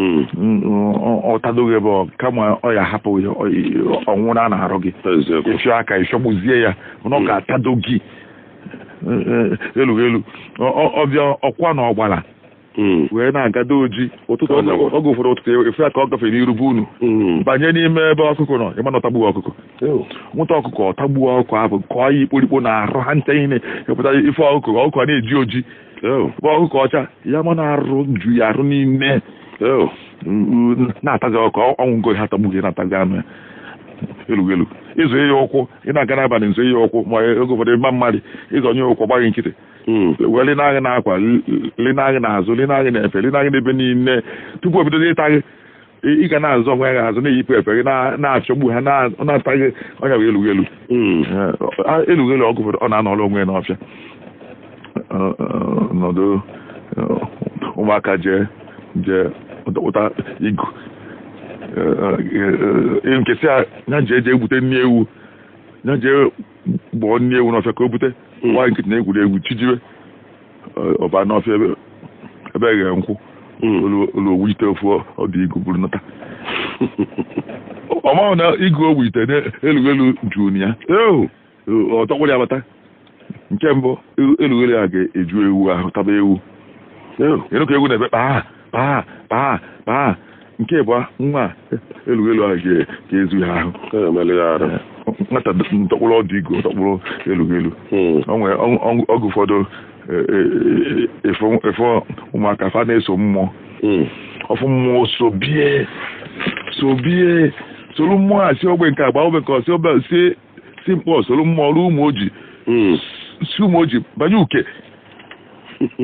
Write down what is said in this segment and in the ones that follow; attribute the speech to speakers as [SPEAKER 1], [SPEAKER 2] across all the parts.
[SPEAKER 1] Hmm. ọ tado gị ebe ọ kama ọ ya-ahapụ ya ọ nwụna n'arụ gị ịfịọ aka ịfịọgbuzie ya na ọ hmm. ga-atado gị e, e, elu elu ọ bịa ọkwa n'ọgbara hmm. wee na-agado oji ụtụtụ oge ụfọdụ ụtụtụ e, efe ya ka ọ gafere n'iru be unu banye n'ime ebe ọkụkọ nọ ị ma na ọ tagbuo ọkụkọ nwụta ọkụkọ ọ tagbuo ọkụkọ ahụ kọọ ya ikporikpo n'arụ ha ncha ihe na-epụta ị fụ ọkụkọ ọkụkọ na-eji oji bụ ọkụkọ ọcha ya ama n'arụ ju ya arụ niine na-atazi ọkụ ọnwụ ngo ha atagbughị na-atazi anụ ya elu elu ị zọ ya ụkwụ ị na-aga n'abalị zọ ya ụkwụ ma oge ụfọdụ ịma mmadụ ị zọnye ụkwụ gbaa gị nkịtị hmm. wee lina gị n'akwa lina gị n'azụ lina gị n'efe lina gị n'ebe niile tupu o bidozi ịta gị ị ga na-azọ onwe gị azọ na-eyipụ efe gị na- na-achọgbu ha na- ọ na-ata gị ọ nya bụ elughelu Mm. Eh, elughelu oge ụfọdụ ọ na-anọrọ onwe ya n'ọfịa Eh, eh, nọdụ eh, ụmụaka jee jee kpata igu nke a sị ya jee jee gbute nni ewu ya jee gbuo nni ewu n'ọfịa ka o bute nwaanyị nkịtị na-egwuri egwu chi jiwe ọ baa n'ọfịa ebe ebe eghe nkwụ o luo o wuite ofu ọdụ igu buru nata ọ mahụ na igu o wuite elu elu juu na ya ọ dọkpụrụ ya bata nke bụ elu elu a ga-eju ewu ahụ taba ewu ị nụ ka ewu na-ebe kpaa kpaa kpaa kpaa nke bụ nwa elughelu ahụ agazuo ya ahụ nwata dọkpụrụ ọdụ igu dọkpụrụ elughelu hmm. oge ụfọdụ e, e, e, ị fụ ụmụaka fa na-eso mmụọ hmm. ọ fụ mmụọ sobie sobie soro mmụọ a si ogbe nke a gbaa ogbe nke o si Obosi si Nkpọ soro mmụọ ruo Ụmụoji Mm. si Ụmụoji banye Uke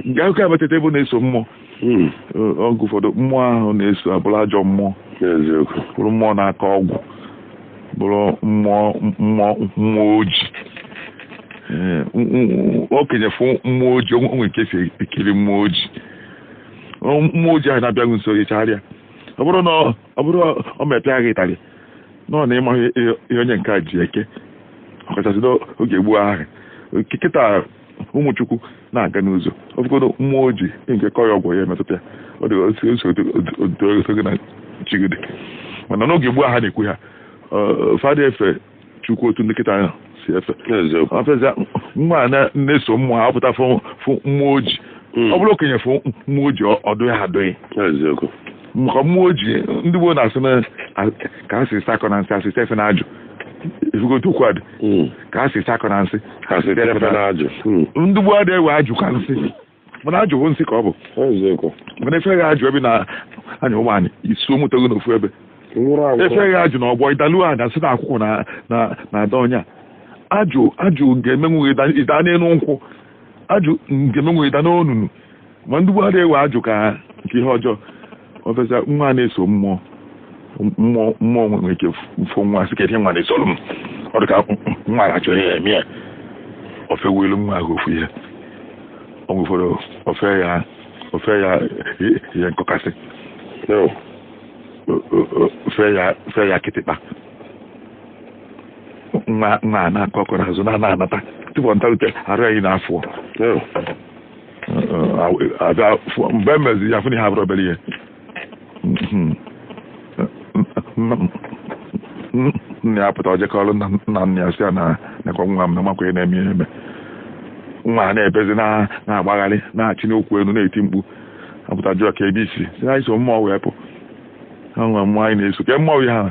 [SPEAKER 1] nke a gakwuo Abatete ebe ọ na-eso mmụọ Mm. Ọ- oge ụfọdụ mmụọ ahụ na-eso abụrụ ajọ mmụọ N'eziokwu. bụrụ mmụọ na-akọ ọgwụ bụrụ mmụọ mmụọ mmụọ oji Ee, m- m- okenye fụ mmụọ oji o nwere ka e si ekiri mmụọ oji Ọ- mmụọ oji ahụ na-abịa gị nso ị chagharịa ọ bụrụ na ọ- ọ bụrụ ọ mee pịa gị ịtarị nọ na ị maghị ihe onye nke a ji eke ọkachasị n'oge gboo ahụ kịta ụmụ Chukwu na-aga n'ụzọ ọ bụgodu mmụọ ojii nke kọ ya ọgwụ ya emetụta ya ọ dị otu na chigide mana n'oge gboo ha na-ekwu ha fa ada efe Chukwu otu ndị kịta ahụ si efe eziokwu a fụzie nwa a na- na-eso mmụọ ha pụta fụ fụ mmụọ oji Mm. ọ bụrụ okenye fụ mmụọ oji ọ- ọdụ ya adụghị eziokwu maka mmụọ oji ndị gboo na-asị na a- ka a si sakọ na nsị asị sefe na ajụ ifugote okwu adị Mm. ka a si sakọ na nsị ha si tefe na ajụ Mm. ndị gboo adịghị ewe ajụ ka nsị mana ajụ bụ nsị ka ọ bụ mana efe gị ajụ ebe ị na-anya ụgbọ anị isu moto gị n'ofu ebe efe gị ajụ na ọgbọ ịdalu anị asị na akwụkwụ na-ada onye a ajụ ga-emenwu ịda n'elu nkwụ ajụ ga-emenwu ịda n'onunu ma ndị gboo adịghị ewe ajụ ka nke ihe ọjọọ ọbịaza nwa na-eso mmụọ mmụọ nwere ike fụ nwa sị kedu nwa na-esoro m ọ dị ka nwa a chọrọ ihe eme ya ofe welu nwa ahụ ofu ihe ọ nwefọrọ ofe ya ofe ya ihe nkọkasị ofe ya kịtịkpa nwa na-akọ ọkọ n'azụ na-anata tupu ọ natarute arụ ya niine afụọ aza mgbe emezi ya fụ na ihe abụrọ obere ihe nna ya pụta o jekwuru nna nna ya sị ya na nekwa nwa m na amakwa ihe na-eme ihe eme nwa a na-ebezi na-agbagharị na-achịni ụkwụ elu na-eti mkpu apụta jụọ ka ebe isi si na iso mmụọ wee pụ ha nwa mmụọ anyị na-eso ke mmụọ ya ha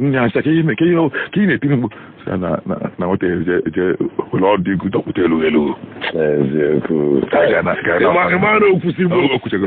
[SPEAKER 1] nne ya sị ka ihe ka ihe ka ihe na-etiri mkpu sị ya na na na nweta je welu ọdụ igu dọkpụta elu elu eziokwu ka a ga na
[SPEAKER 2] ka a Ị ma- ị ma na okwusi bụ o kwuchego